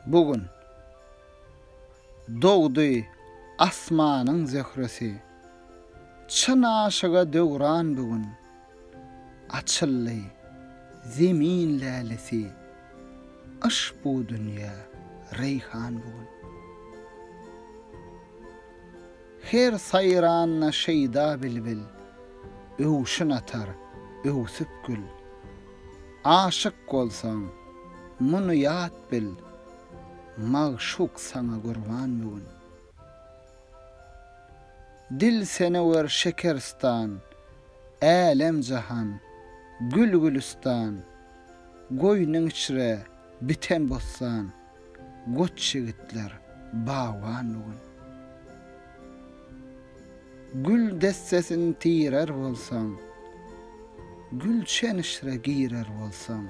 Bu gün dogdy asmanyň zöhresi, Çyn aşyga döwran bu gün, Açyldy Zemin lälesi, Yş bu dünýä reýhan bu gün. Her saýranda şeýda bilbil. Öwşün atar, öwsüp gül. Aşyk bolsaň, muny ýat bil. Magşuk saňa gurban bu gün. Dil senewer şekeristan, Älem-jahan, gül-gülüstan, Goýnuň içre biten bossan. Goç ýigitler bagban bu gün. Gül dessesin tirer bolsaň, Gülşen işre girer bolsaň,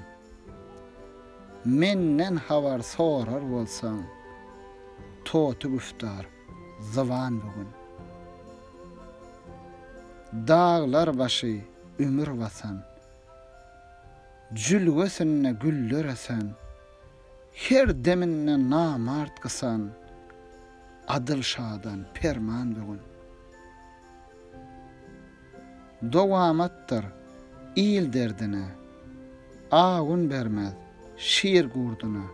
Menden habar sorar bolsaň, Toty güftar zyban bu gün. Daglar başy ümür basan, Jülgesinde güller ösen, Her deminde namart gysan, Adyl şadan perman böwen. Dowamatdyr il derdine, Awun bermez şir gurduna.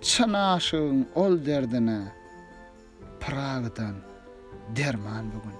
Çyn aşygyň ol derdine, Pyragydan derman böwen.